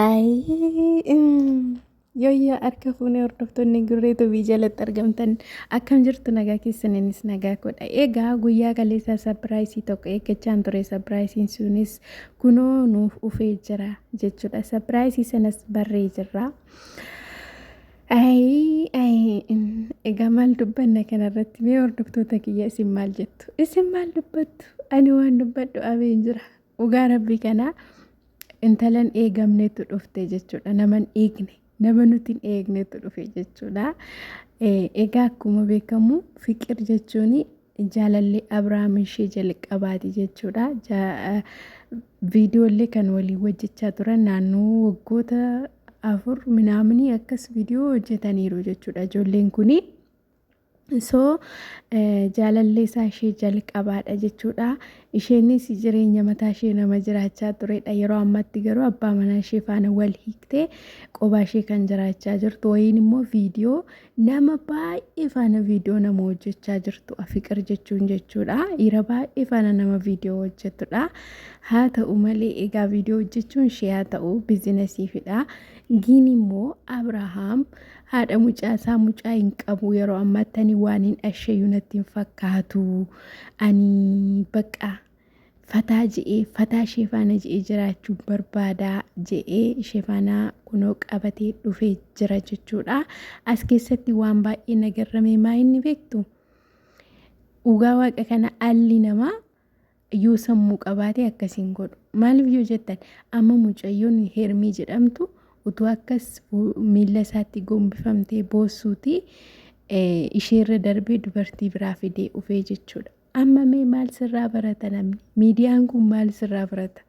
Ayii, mm, Yooyyaa harka fuunee hordoftoonni gurree tubii jalatti argamtan akkam jirtu nagaa keessaniinis nagaa godha. Egaa guyyaa kaleessaa sapiraayisii tokko eeggachaan ture sapiraayisiin sunis kunoo nuuf ufee jira jechuudha. Sapiraayisii sanas barree jirra. Ayii, ayii, mm, egaa maal dubbanna kanarratti mee hordoftoota kiyya isin maal jettu? Isin maal dubbattu? Ani waan dubbadhu abeen jira. Dhugaa rabbii kana intalan eegamnetu dhufte jechuudha. Naman eegne nama nuti hin eegnetu dhufe jechuudha. Egaa akkuma beekamu fiqir jechuun jaalallee Abiraam ishee jalqabaati jechuudha. Viidiyoollee kan walii hojjechaa turan naannoo waggoota afur minaaminii akkas viidiyoo hojjetaniiru jechuudha. Ijoolleen kuni So jaalallee isaa ishee jalqabaadha jechuudha. Isheenis jireenya mataa ishee nama jiraachaa turedha. Yeroo ammatti garuu abbaa manaa ishee faana wal hiiktee qobaa ishee kan jiraachaa jirtu wayiin immoo viidiyoo nama baay'ee faana viidiyoo nama hojjechaa jirtu afiqir jechuun jechuudha. Dhiira baay'ee faana nama viidiyoo hojjetudha. Haa ta'u malee egaa viidiyoo hojjechuun ishee haa ta'u biizinasiifidha. Giin immoo Abrahaam Haadha mucaa isaa mucaa hin qabu yeroo ammaatti ani waan hin asheeyyuu natti hin fakkaatu. Ani bakka fataa je'ee fataa ishee faana je'ee jiraachuu barbaada je'ee ishee faana kunoo qabatee dhufee jira jechuudha. As keessatti waan baay'ee nagarramee maa inni beektu? Dhugaa waaqa kana alli namaa yoo sammuu qabaate akkas hin godhu maaliif yoo jettan amma mucayyoon hermii jedhamtu utuu akkas miila isaatti gombifamtee boossuuti isheerra darbee dubartii biraa fidee ufee jechuudha amma mee maal sirraa barata namni miidiyaan kun maal sirraa barata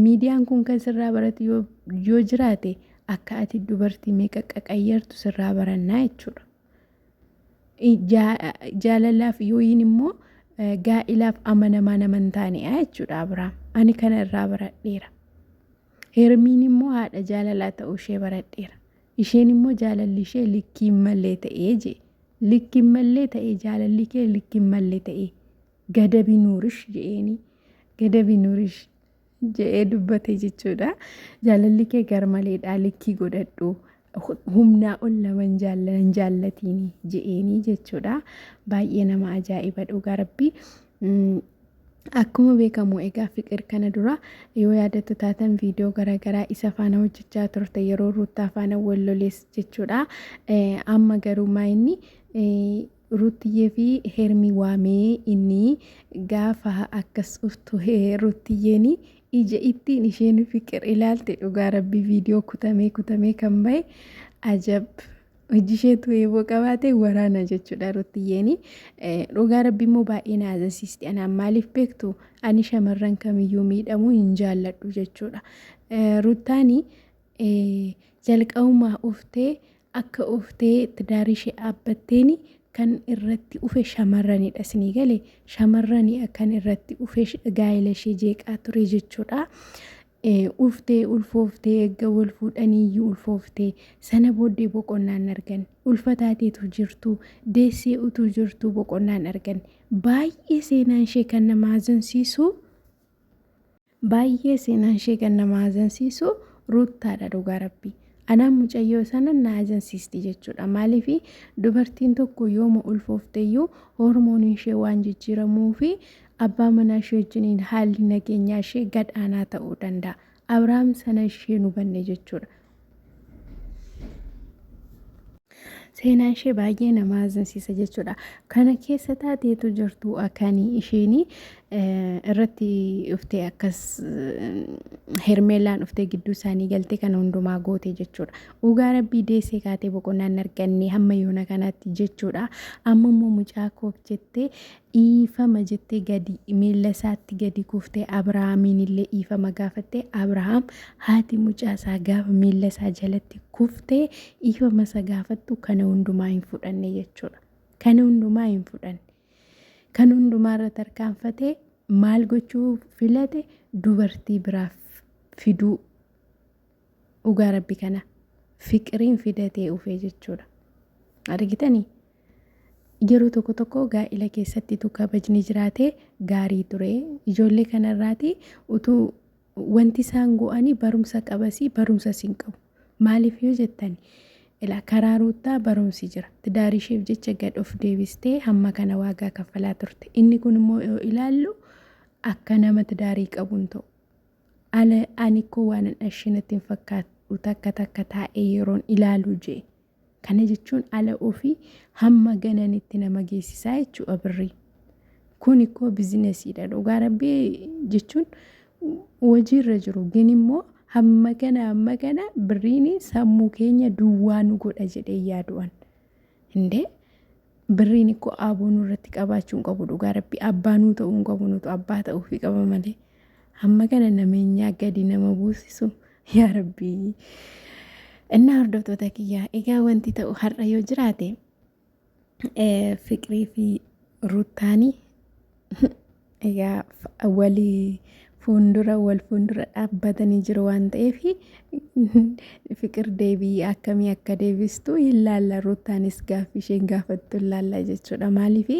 miidiyaan kun kan sirraa baratu yoo jiraate akka ati dubartii meeqa qaqayyartu sirraa barannaa jechuudha. Jaalalaaf yookiin immoo gaa'ilaaf amanamaa nama hin taanedha jechuudha Abiraam. Ani kana irraa baradheera. Hermiin immoo haadha jaalalaa ta'uu ishee baradheera. Isheen immoo jaalalli ishee likkiin mallee ta'ee jee. Likkiin mallee ta'ee jaalalli kee likkiin mallee ta'ee. Gadabi nuurish jeeni. Gadabi nuurish. je'ee dubbate jechuudha. Jaalalli kee garmaleedha likkii godhadhu. humnaa ol naman jaallanan jaallatiin je'eenii jechuudha. Baay'ee nama ajaa'iba dhugaa rabbii. Akkuma beekamu egaa fiqir kana dura yoo yaadattu taatan viidiyoo garaagaraa isa faana hojjechaa turte yeroo ruuttaa faana wallolees jechuudha. Amma garuu maayinni Ruuttiyee fi Hermii waamee inni gaafa akkas dhuftu Ruuttiyeen ija ittiin isheen fiqir ilaalte dhugaa rabbii viidiyoo kutamee kutamee kan bahe ajab hojii isheetu eeboo qabaate waraana jechuudha Ruuttiyeen dhugaa rabbii immoo baay'ee na azasiisti anaan maaliif beektu ani shamarran kamiyyuu miidhamuu hin jaalladhu jechuudha Ruuttaani jalqabumaa uftee Akka uftee tidaarii ishee aabbatteeni kan irratti ufe shamarranidha isinii gale shamarrani kan irratti ufe gaa'ela ishee jeeqaa ture jechuudha. Uftee ulfooftee erga wal fuudhaniiyyuu ulfooftee sana booddee boqonnaa hin arganne ulfa taateetu jirtu deessee utuu jirtu boqonnaa hin arganne baay'ee seenaan ishee kan nama haazansiisu Baay'ee seenaan ishee kan nama haazansiisu Ruuttaadha dhugaa rabbii. Anaan mucayyoo sana na haazansiisti jechuudha. Maaliif dubartiin tokko yooma ulfoofteyyuu hormooniin ishee waan jijjiiramuu fi abbaa manaa ishee wajjiniin haalli nageenyaa ishee gad aanaa ta'uu danda'a. Abrahaam sana isheen hubanne jechuudha. seenaan ishee baay'ee nama hazinsiisa jechuudha. Kana keessa taateetu jirtu akanii isheen irratti dhuftee akkas hermeelaan dhuftee gidduu isaanii galtee kana hundumaa goote jechuudha. Dhugaa rabbii deessee kaatee boqonnaan arganne hamma yoona kanatti jechuudha. Amma immoo mucaa koof jettee Dhiifama jettee gadi, miilla isaatti gadi kuuftee Abrahaamiin illee dhiifama gaafatte. Abrahaam haati mucaa isaa gaafa miilla isaa jalatti kuftee dhiifama isa gaafattu kana hundumaa hin fudhanne jechuudha. Kana hundumaa hin fudhanne. Kan hundumaa irra tarkaanfatee maal gochuu filate dubartii biraaf fiduu dhugaa rabbi kana fiqiriin fidatee ufee jechuudha argitanii yeroo tokko tokko gaa'ila keessatti tu kabajni jiraate gaarii ture ijoollee kanarraati utuu wanti isaan go'anii barumsa qabasii barumsa siin qabu maaliif yoo jettan ila karaa ruuttaa barumsi jira tidaarii isheef jecha gad of deebistee hamma kana waagaa kaffalaa turte inni kun immoo yoo ilaallu akka nama tidaarii qabuun ta'u Ala ani ikkoo waanan ashee natti hin fakkaadhu takka takka taa'ee yeroon ilaalu je. Kana jechuun ala ofii hamma gananitti nama geessisaa jechuudha birri. Kun ikkoo bizinesiidha dhugaa rabbii jechuun hojiirra jiru gin immoo hamma kana hamma kana birriin sammuu keenya duwwaa nu godha jedhee yaadu'an. Hindee birriin ikkoo aaboo nurratti qabaachuu hin qabu dhugaa rabbi abbaa nuu ta'uu hin qabu nutu abbaa ta'uufi qaba malee hamma kana nameenyaa gadi nama buusisu yaa rabbii. Innaa hordoftoota kiyyaa egaa wanti ta'u har'a yoo jiraate fiqirii fi ruttaanii Egaa wali fuundura wal fuundura dhaabbatanii jiru waan ta'eef fiqir deebii akkamii akka deebistu hin laalla ruuttaanis gaaffii isheen gaafattu hin laalla jechuudha maaliif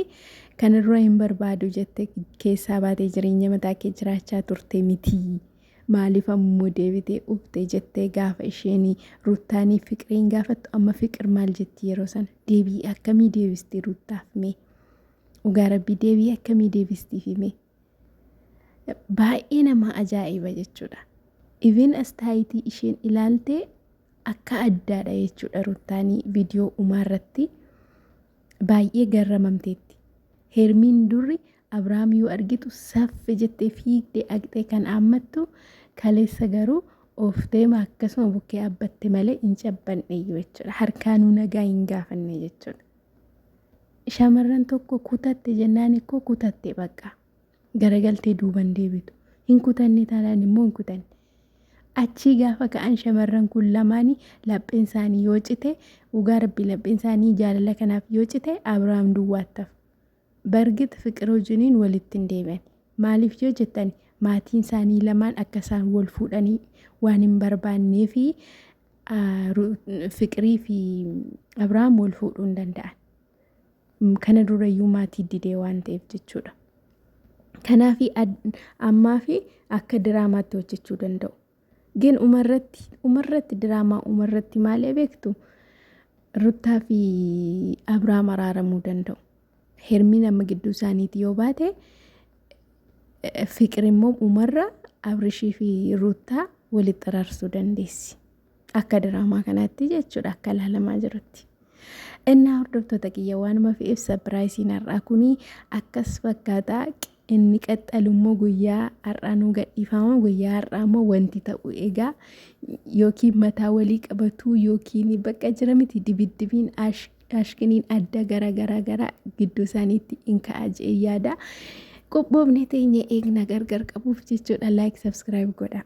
kan irra hin barbaadu jette keessaa baatee jireenya mataa kee jiraachaa turte miti maaliif ammoo deebitee ufte jettee gaafa isheen ruuttaanii fiqiriin gaafattu amma fiqir maal jetti yeroo sana deebii akkamii deebisti ruuttaaf mee. Dhugaa rabbii deebii akkamii deebistiif himee. Baay'ee nama ajaa'iba jechuudha. Even astaayitii isheen ilaaltee akka addaadha jechuudha ruttaanii viidiyoo umaa irratti baay'ee garramamteetti. Hermiin durri Abrahaam yoo argitu saffe jettee fiigdee aqxee kan aammattu kaleessa garuu oofteema akkasuma bukkee abbatte malee hin cabbanne jechuudha. Harkaanuu nagaa hin gaafanne jechuudha. Shamarran tokko kutatte jennaan ikkoo kutatte baqqa. Garagaltee duuban deebitu. Hin kutanne taanaan immoo hin kutanne. Achii gaafa ka'an shamarran kun lamaanii lapheen isaanii yoo cite dhugaa rabbi lapheen isaanii jaalala kanaaf yoo cite Abiraam duwwaattaf. Bargit fiqir wajjiniin walitti hin deebi'an. Maaliif yoo jettan maatiin isaanii lamaan akka isaan wal fuudhanii waan hin barbaannee fi Fiqirii fi Abrahaam wal fuudhuu hin danda'an. Kana durayyuu maatii didee waan ta'eef jechuudha. Kanaaf ammaa fi akka diraamaatti hojjechuu danda'u. Gin umarratti umarratti diraamaa umarratti maalee beektu ruttaa fi Abrahaam araaramuu danda'u. Hermiin amma gidduu isaaniiti yoo baate fiqir immoo umarra abrishii fi ruuttaa walitti xaraarsuu dandeessi. Akka diraamaa kanaatti jechuudha akka ilaalamaa jirutti. Innaa hordoftoota kiyya waanuma fi ibsa biraayisiin har'aa kunii akkas fakkaataa Inni qaxxalu immoo guyyaa har'aa nuu gadhiifama. Guyyaa har'aa immoo wanti ta'u egaa yookiin mataa walii qabatuu yookiin bakka jira miti dibiddibiin ashkiniin adda gara gara gara gidduu isaaniitti in ka'a je'ee yaada. Qophoofne teenya eegna gargar qabuuf jechuudha. Laayik sabskiraayib godha.